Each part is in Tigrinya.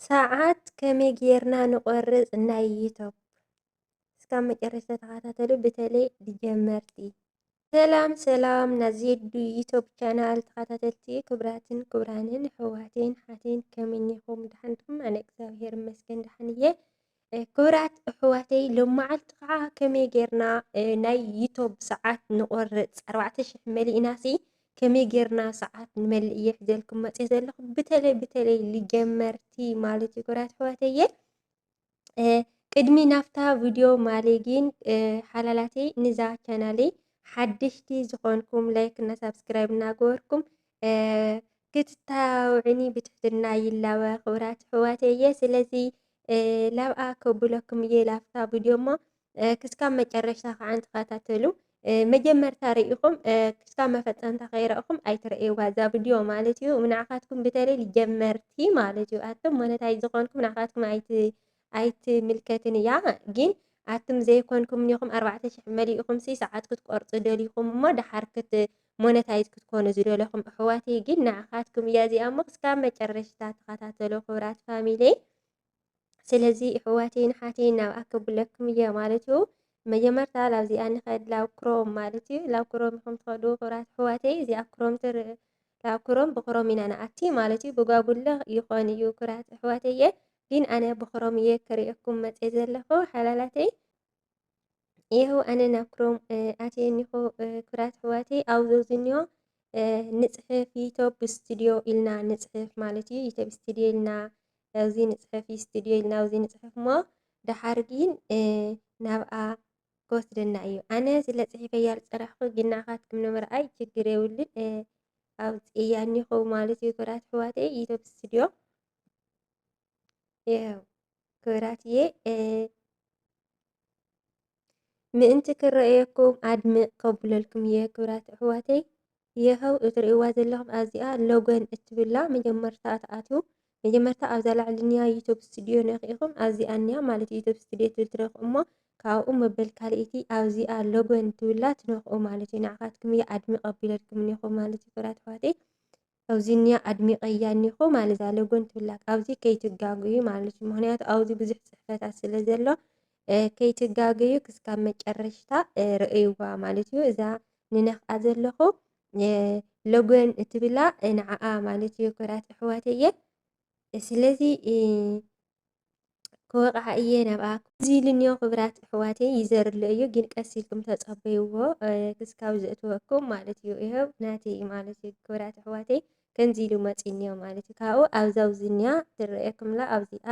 ሰዓት ከመይ ጌርና ንቆርፅ ናይ ዩቱብ እስካብ መጨረሻ ተኸታተሉ ብተለይ ጀመርቲ ሰላም ሰላም ናዜዱ ዩቱብ ቻናል ተኸታተልቲ ክብራትን ክብራንን ሕዋቴን ሓቴን ከመይኒኹም ድሓንኩም ኣነ እግዚኣብሄር ይመስገን ድሓን እየ ክብራት ኣሕዋተይ ሎማዓንቲ ከዓ ከመይ ጌርና ናይ ዩቶብ ሰዓት ንቆርፅ ኣርባዕተ ሽሕ መሊእናሲ ከመይ ጌርና ሰዓት ንመልእ እየ ሒዘልኩም መፅየ ዘለኹ ብተለይ ብተለይ ልጀመርቲ ማለት እዩ ክብራት ኣሕዋተየ ቅድሚ ናብታ ቪድዮ ማሌ ግን ሓላላተይ ንዛ ቻናለይ ሓደሽቲ ዝኾንኩም ላይክ እና ሳብስክራይብ እናገበርኩም ክትታባበዑኒ ብትሕትና ይላበ ክብራት ኣሕዋት እየ ስለዚ ላብኣ ከብለኩም እየ ላፍታ ቪድዮ እሞ ክስካብ መጨረሽታ ከዓ ተኸታተሉ መጀመርታ ርኢኹም ክስካብ መፈፀምታ ከይረእኹም ኣይትረእይዋ እዛ ቪድዮ ማለት እዩ። ንዓኻትኩም ብተለይ ጀመርቲ ማለት እዩ ኣቶም ሞነታይ ዝኾንኩም ንዓኻትኩም ኣይትምልከትን እያ ጊን ኣትም ዘይኮንኩም ኒኩም ኣርባዕተ ሽሕ መሊኢኩም ሲ ሰዓት ክትቆርጹ ደሊኩም እሞ ደሓር ክት ሞነታይዝ ክትኮኑ ዝደለኩም እሕዋተይ ጊን ንዓካትኩም እያ እዚኣ እሞ ክስካብ መጨረሽታ ተከታተሎ ክብራት ፋሚሊ ስለዚ እሕዋተይ ንሓተይ ናብ ኣክብለኩም እየ ማለት እዩ መጀመርታ ላብዚኣ ንኸድ ላብ ክሮም ማለት እዩ ላብ ክሮም ኢኹም ትኸዱ ክብራት ኣሕዋተይ እዚኣ ክሮም ትርእ ላብ ክሮም ብክሮም ኢና ንኣቲ ማለት እዩ ብጓጉለ ይኾን እዩ ክብራት ኣሕዋተይ እየ ግን ኣነ ብክሮም እየ ክሪኤኩም መጼ ዘለኩ ሓላላተይ ይህው ኣነ ናብ ክሮም ኣትየ እኒኹ ክብራት ኣሕዋተይ ኣብዞ ዝኒዮ ንፅሕፍ ዩቶብ ስቱድዮ ኢልና ንፅሕፍ ማለት እዩ ዩቶብ ስቱድዮ ኢልና ኣብዚ ንፅሕፍ ስቱድዮ ኢልና ኣብዚ ንፅሕፍ እሞ ደሓር ግን ናብኣ ክወስደና እዩ ኣነ ስለ ፅሒፈያ ዝፀራሕኩ ግን ንዓኻትኩም ንምርኣይ ችግር የብሉን ኣብ ፅእያ እኒኹ ማለት እዩ ክብራት ኣሕዋተይ ዩቶብ ስቱድዮ ያው ክብራትዬ ምእንቲ ክረኣየኩም ኣድምቕ ከብለልኩም እየ ክብራት ኣሕዋተይ የኸው እትርእይዋ ዘለኹም ኣዚኣ ሎጎን እትብላ መጀመርታ ትኣትዩ መጀመርታ ኣብዛ ላዕልንያ ዩቱብ ስቱድዮ ነኺኢኹም ኣዚኣ እንያ ማለት ዩቱብ ስቱድዮ ትብል ትረኽኡ እሞ ካብኡ መበል ካልእቲ ኣብዚኣ ሎጎን ትብላ ትነኽኡ ማለት እዩ ንዓኻትኩም እየ ኣድምቕ ኣቢለልኩም እኒኹ ማለት እዩ ክብራት ኣሕዋተይ ኣብዚ እንያ ኣድሚቐያ እኒሆ ማለት እዛ ሎጎን ትብላ ካብዚ ከይትጋገዩ ማለት እዩ። ምክንያቱ ኣብዚ ብዙሕ ፅሕፈታት ስለ ዘሎ ከይትጋገዩ ክስካብ መጨረሽታ ርእይዋ ማለት እዩ። እዛ ንነኽኣ ዘለኹ ሎጎን እትብላ ንዓኣ ማለት እዩ ክብራት ኣሕዋተየ ስለዚ ክወቕዓ እየ ናብኣ እዚ ኢሉኒዮ ክብራት ኣሕዋተይ ይዘርሎ እዩ ግን ቀስ ኢልኩም ተጸበይዎ ክስካብ ዘእትወኩም ማለት እዩ ይኸው ናተይ እዩ ማለት እዩ ክብራት ኣሕዋተይ ከምዚ ኢሉ መጺኒዮ ማለት እዩ ካብኡ ኣብዛውዝኒያ ትረእየኩምላ ኣብዚኣ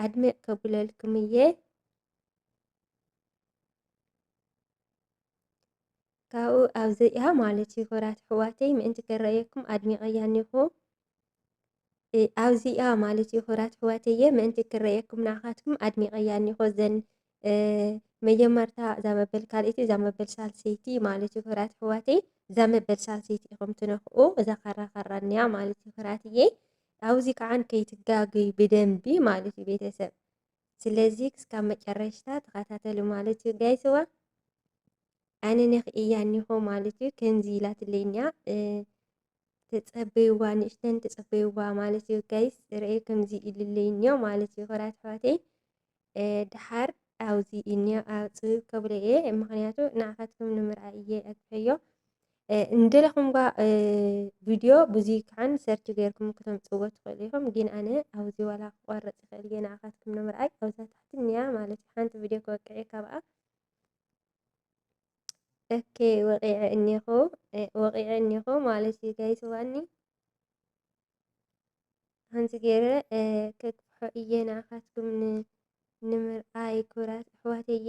ኣድሚዕ ከብለልኩም እየ ካብኡ ኣብዚኣ ማለት እዩ ክብራት ኣሕዋተይ ምእንቲ ክረኣየኩም ኣድሚቐያ እኒኹ ኣብዚኣ ማለት እዩ ክብራት ኣሕዋተየ ምእንቲ ክረኣየኩም ንዓኻትኩም ኣድሚቐያ እኒኹ እዘን መጀመርታ እዛ መበል ካልኣይቲ እዛ መበል ሳልሰይቲ ማለት እዩ ክብራት ኣሕዋተይ እዛ መበል ሳልሰይቲ ኢኹም ትነኽኡ እዛ ካራ ካራ እኒኣ ማለት እዩ ክብራትየ ኣብዚ ከዓን ከይትጋገዩ ብደንቢ ማለት እዩ ቤተሰብ ስለዚ ክስካብ መጨረሽታ ተኸታተሉ ማለት እዩ ጋይስዋ ኣነ ነክእያ እኒሆ ማለት እዩ ከምዚ ኢላትለይኛ ተፀበይዋ ንእሽተን ተፀበይዋ ማለት እዩ ጋይስ ርአዩ ከምዚ ኢልለይ እኒኦ ማለት እዩ ክብራት ኣሕዋተይ ድሓር ኣብዚ እኒኦ ኣፅብብ ከብሎ እየ ምክንያቱ ንዓኻትኩም ንምርኣይ እየ ኣግፈዮ እንደለኹም ጓ ቪድዮ ብዙይ ክዓን ሰርች ገይርኩም ክተምፅዎ ትኽእሉ ኢኹም ግን ኣነ ኣብዚ ዋላ ክቆርፅ ይኽእል እየ ንዓኻትኩም ንምርኣይ ኣብዛ ታሕቲ እኒኣ ማለት እዩ ሓንቲ ቪድዮ ክወቅዕ እየ ካብኣ እከ ወቂዐ እኒኹ ወቂዐ እኒኹ ማለት እዩ ጋይስ ዋኒ ከምዚ ገይረ ከግፍሖ እየ ንዓኻትኩም ንምርኣይ ክብራት ኣሕዋተየ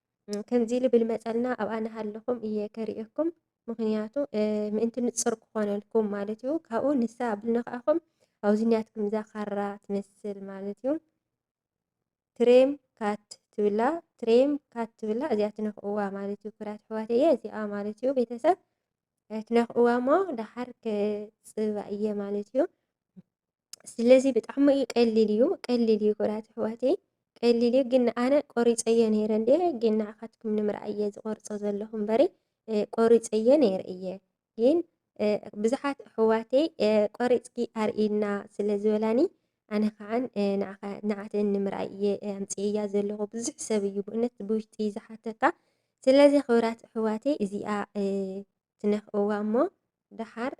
ከምዚ ኢሉ ብልመጸልና ኣብኣ እናሃለኹም እየ ከርእየኩም ምክንያቱ ምእንቲ ንጽር ክኾነልኩም ማለት እዩ ካብኡ ንሳ ኣብልና ከኣኹም ኣብዚ ኒያትኩም እዛ ካራ ትመስል ማለት እዩ ትሬም ካት ትብላ ትሬም ካት ትብላ እዚኣ ትነኽእዋ ማለት እዩ ኩራት ኣሕዋት እየ እዚኣ ማለት እዩ ቤተሰብ ትነኽእዋ እሞ ደሓር ክፅባ እየ ማለት እዩ ስለዚ ብጣዕሚ እዩ ቀሊል እዩ ቀሊል እዩ ክብራት ኣሕዋተይ ቀሊል እዩ ግን ኣነ ቆሪፀዮ ነይረ እንደ ግን ንዓኻትኩም ንምርኣይ እየ ዝቆርፆ ዘለኹ እምበሪ ቆሪፀዮ ነይረ እየ ግን ብዙሓት ኣሕዋተይ ቆሪፅኪ ኣርእና ስለ ዝበላኒ ኣነ ከዓን ንዓተን ንምርኣይ እየ ኣምፅእያ ዘለኹ ብዙሕ ሰብ እዩ ብእነት ብውሽጢ ዝሓተካ ስለዚ ክብራት ኣሕዋተይ እዚኣ ትነክእዋ እሞ ደሓር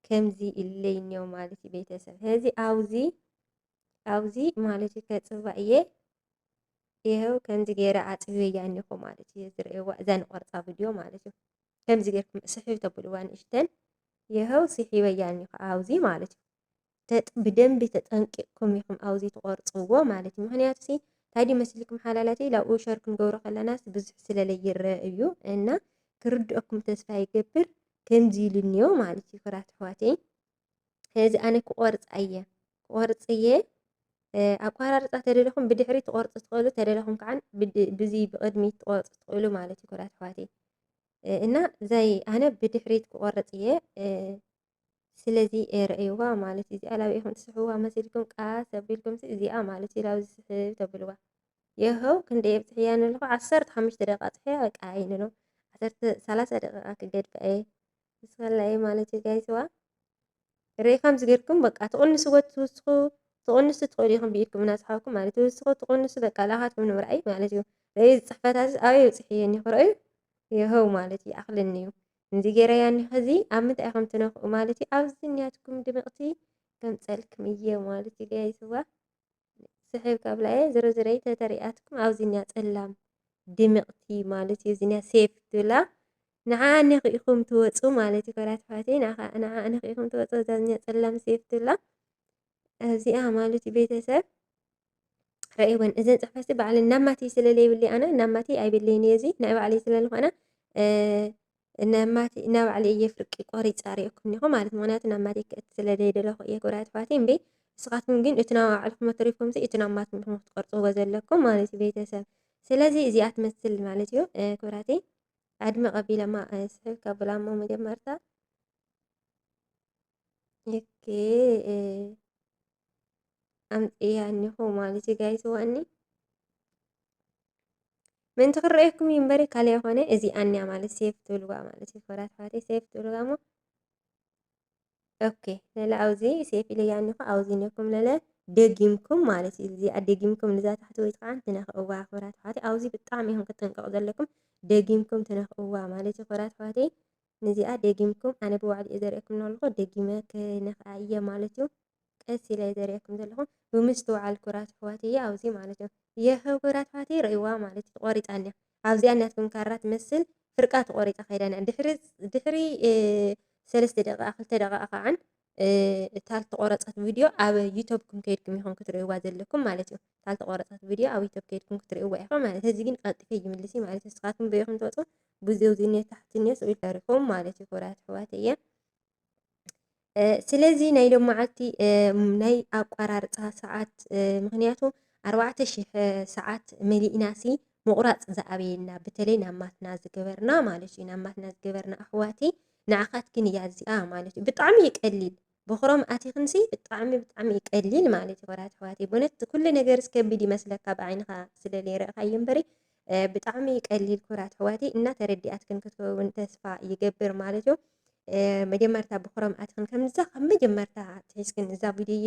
ከምዚ ኢለይ እኒኦ ማለት እዩ ቤተሰብ ስለዚ ኣብዚ ኣብዚ ማለት እዩ ከፅባ እየ ይኸው ከምዚ ገይረ ኣፅብዮ እያ እኒኹ ማለት እዩ ዝርእየዋ እዛ ንቆርፃ ቪድዮ ማለት እዩ ከምዚ ገይርኩም ስሕብ ተብልዋ ንእሽተን ይኸው ስሒበያ እኒኹ ኣብዚ ማለት እዩ ብደንቢ ተጠንቂቕኩም ኢኹም ኣብዚ ትቖርፅዎ ማለት እዩ ምክንያቱ ሲ እንታይ ድዩ መስልኩም ሓላላተይ ላብኡ ሸር ክንገብሮ ከለናስ ብዙሕ ስለለ ይረአ እዩ እና ክርድኦኩም ተስፋ ይገብር ከምዚ ኢሉ እኒኦ ማለት እዩ ክራት ኣሕዋተይ ስለዚ ኣነ ክቆርፃ እየ ክቆርፅ እየ ኣቋራርፃ ተደለኹም ብድሕሪ ትቆርፁ ትኽእሉ ተደለኹም ከዓ ብዚ ብቅድሚት ትቆርፁ ትኽእሉ ማለት እዩ ክራት ኣሕዋተይ እና ዘይ ኣነ ብድሕሪት ክቆርፅ እየ ስለዚ ርእይዋ ማለት እዩ እዚኣ ላብ ኢኹም ትስሕዋ መሲልኩም ቃስ ኣቢልኩም እዚኣ ማለት እዩ ላብ ዝስሕብ ተብልዋ የኸው ክንደይ ኣብፅሕያ ንለኹ ዓሰርተ ሓሙሽተ ደቂቃ ፅሕያ በቃ እየ ንሎ ዓሰርተ ሰላሳ ደቂቃ ክገድፋ እየ ንስኸላ እየ ማለት እዩ ጋይስዋ ርእይ ከም ዝገርኩም በቃ ትቕንስዎ ትውስኹ ትቕንሱ ትኽእሉ ኢኹም ብኢድኩም እናፅሓኩም ማለት ትውስኹ ትቕንሱ በቃ ላኻትኩም ንምርኣይ ማለት እዩ ርእይ ፅሕፈታት ኣበይ ኣብፅሕየን ይኽረእዩ የኸው ማለት እዩ ኣኽልኒ እዩ ከምዚ ጌረያ እኒ ኸዚ ኣብ ምንታይ ኢኹም ትነኽኡ ማለት እዩ ኣብዚ እኒያትኩም ድምቕቲ ከምፀልክም እየ ማለት እዩ ጋይስዋ ስሕብ ካብላ እየ ዝሮ ዝረይ ተተሪኣትኩም ኣብዚ እኒያ ፀላም ድምቕቲ ማለት እዩ እዚኒያ ሴፍ ትብላ ንዓ እኒኹ ኢኹም ትወፁ ማለት እዩ ኮራት ፋቴ ንዓ እኒኹ ኢኹም ትወፁ እዛ እኒያ ፀላም ሴፍ ትብላ እዚኣ ማለት እዩ ቤተሰብ ረእይወን እዘን ፅሕፈትሲ ባዕለን ናብ ማትይ ስለ ዘይብለይ ኣነ ናብ ማትይ ኣይብለይን እየ እዚ ናይ ባዕለይ ስለ ዝኾነ ናብ ማትይ ናብ ባዕለይ እየ ፍርቂ ቆሪፀ ሪኦኩም እኒኹ ማለት ምክንያቱ ናብ ማትይ ክእት ስለ ዘይደለኹ እየ ክብራ ትፋትይ እምበ ንስኻትኩም ግን እቲ ናብ ባዕልኩም ተሪፍኩም እቲ ናብ ማትኩም ኢኹም ክትቆርፅዎ ዘለኩም ማለት እዩ ቤተሰብ ስለዚ እዚኣ ትመስል ማለት እዩ ክብራተይ ኣድመ ቀቢለማ ስሕብ ከብላሞ መጀመርታ ኦኬ ኣምፅያ እኒሆ ማለት እዩ ጋይስ ዋኒ ምእንቲ ክረኣየኩም እዩ እምበሪ ካልእ ኣይኮነ እዚ ኣንያ ማለት ሴፍ ትብልዋ ማለት እዩ ኮራት ፋቴ ሴፍ ትብልዋ እሞ ኦኬ ለለ ኣብዚ ሴፍ ኢለያ እኒኹ ኣብዚ እኒኹም ለለ ደጊምኩም ማለት እዩ እዚኣ ደጊምኩም ንዛ ታሕቲ ወይ ከዓ ትነኽእዋ ኮራት ፋቴ ኣብዚ ብጣዕሚ ኢኹም ክጥንቀቑ ዘለኩም ደጊምኩም ትነኽእዋ ማለት እዩ ኮራት ፋቴ ንዚኣ ደጊምኩም ኣነ ብባዕሉ እየ ዘርእየኩም ለኹ ደጊመ ክነክኣ እየ ማለት እዩ ቀስ ኢለ ዘርእየኩም ዘለኹ ብምስትውዓል ኩራት ኣሕዋት እየ ኣብዚ ማለት እዩ የህ ኩራት ኣሕዋት ረእይዋ ማለት እዩ ቆሪፃ እኒያ ኣብዚኣ ናትኩም ካራ ትመስል ፍርቃ ተቆሪፃ ከይዳ ድሕሪ ሰለስተ ደቂቃ ክልተ ደቂቃ ከዓን እታ ዝተቆረፀት ቪድዮ ኣብ ዩቶብኩም ከይድኩም ይኹም ክትርእይዋ ዘለኩም ማለት እዩ እታ ዝተቆረፀት ቪድዮ ኣብ ዩቶብ ከይድኩም ክትርእይዋ ኢኹም ማለት እዚ ግን ቀልጢፈ ይምልስ እዩ ማለት እዩ ንስኻትኩም በይኹም ትወፁ ብዙው ዝኔ ታሕቲ ኔ ስኡ ይፈሪኹም ማለት እዩ ክብራት ኣሕዋት እየ ስለዚ ናይ ሎም መዓልቲ ናይ ኣቋራርፃ ሰዓት ምክንያቱ ኣርባዕተ ሽሕ ሰዓት መሊእናሲ ምቑራፅ ዝኣበየና በተለይ ናብ ማትና ዝገበርና ማለት እዩ ናብ ማትና ዝገበርና ኣሕዋቲ ንዓኻትክን እያ እዚኣ ማለት እዩ ብጣዕሚ እዩ ቀሊል ብክሮም ኣቲክንሲ ብጣዕሚ ብጣዕሚ እዩ ቀሊል ማለት እዩ ወራት ኣሕዋተይ ብእውነት ኩሉ ነገር ዝከብድ ይመስለካ ብዓይንኻ ስለ ዘይረእኻዮ እምበሪ ብጣዕሚ እዩ ቀሊል ኩራት ኣሕዋተይ እና ተረዲኣትክን ክትከውን ተስፋ ይገብር ማለት እዩ መጀመርታ ብክሮም ኣትክን ከምዛ ካብ መጀመርታ ትሒዝክን እዛ ቪድዮ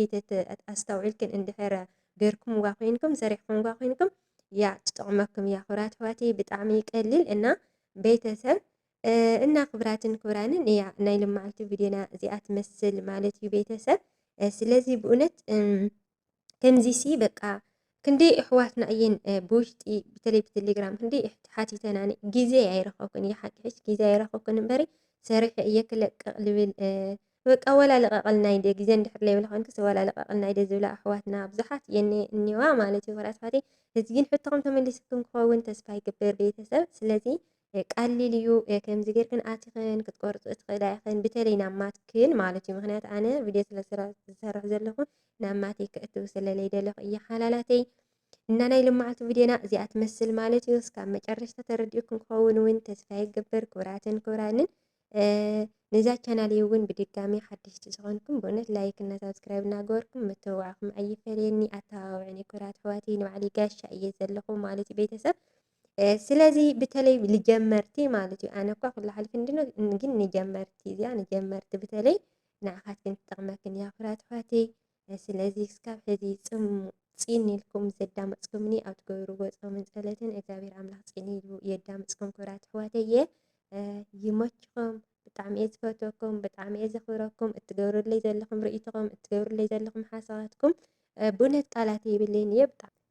ኣስተውዒልክን እንድሕር ገርኩምዋ ኮይንኩም ሰሪሕኩምዋ ኮይንኩም እያ ትጠቕመኩም እያ። ኩራት ኣሕዋተይ ብጣዕሚ ይቀልል እና ቤተሰብ እና ክብራትን ክብራንን እያ ናይ ልማዓልቲ ቪድዮና እዚኣ ትመስል ማለት እዩ ቤተሰብ ስለዚ ብእውነት ከምዚ ሲ በቃ ክንደይ እሕዋትና እየን ብውሽጢ ብተለይ ብቴሌግራም ክንደይ ሓቲተናኒ ግዜ ኣይረኸብኩን እየ ሓቂ ሕጂ ግዜ ኣይረኸብኩን እምበሪ ሰሪሐ እየ ክለቅቕ ልብል በቃ ወላ ልቐቐልና ኢደ ግዜ እንድሕር ለይብላ ኮንክስ ወላ ልቐቐልና ኢደ ዝብላ ኣሕዋትና ብዙሓት እየን እኒዋ ማለት እዩ ወራት ኣሕዋተይ እዚ ግን ሕቶኹም ተመሊስኩም ክኸውን ተስፋ ይግብር ቤተሰብ ስለዚ ቀሊል እዩ ከምዚ ጌርክን ኣቲኽን ክትቆርጽ ትኽእላ ኢኽን ብተለይ ናብ ማትክን ማለት እዩ ምክንያት ኣነ ቪድዮ ስለ ዝሰርሕ ዘለኹ ናብ ማተይ ክእትው ስለ ለይደለኹ እየ ሓላላተይ እና ናይ ልማዓልቲ ቪድዮና እዚኣ ትመስል ማለት እዩ እስካብ መጨረሽታ ተረዲኡኩም ክኸውን እውን ተስፋ ይገብር ክብራትን ክብራንን ነዛ ቻናል እውን ብድጋሚ ሓደሽቲ ዝኾንኩም ብእውነት ላይክ እና ሳብስክራይብ እናገበርኩም ምትብባዕኹም ኣይፈለየኒ ኣተባብዕኒ ኩራት ኣሕዋተይ ንባዕለይ ጋሻ እየ ዘለኹ ማለት እዩ ቤተሰብ ስለዚ ብተለይ ንጀመርቲ ማለት እዩ ኣነ እኳ ኩሉ ሓሊፍ እንድነ ግን ንጀመርቲ እዚኣ ንጀመርቲ ብተለይ ንዓኻትክን ትጠቕመክን እያ ፍራት ፋትይ ስለዚ እስካብ ሕዚ ፅም ፂን ኢልኩም ዘዳመፅኩምኒ ኣብ ትገብርዎ ፆምን ፀለትን እግዚኣብሔር ኣምላኽ ፂን ኢሉ የዳምፅኩም ክብራት ኣሕዋተየ ይመችኹም ብጣዕሚ እየ ዝፈትወኩም ብጣዕሚ እየ ዘኽብረኩም እትገብርለይ ዘለኹም ርእይቶኹም እትገብርለይ ዘለኹም ሓሳባትኩም ብእውነት ቃላት የብለይን እየ ብጣዕሚ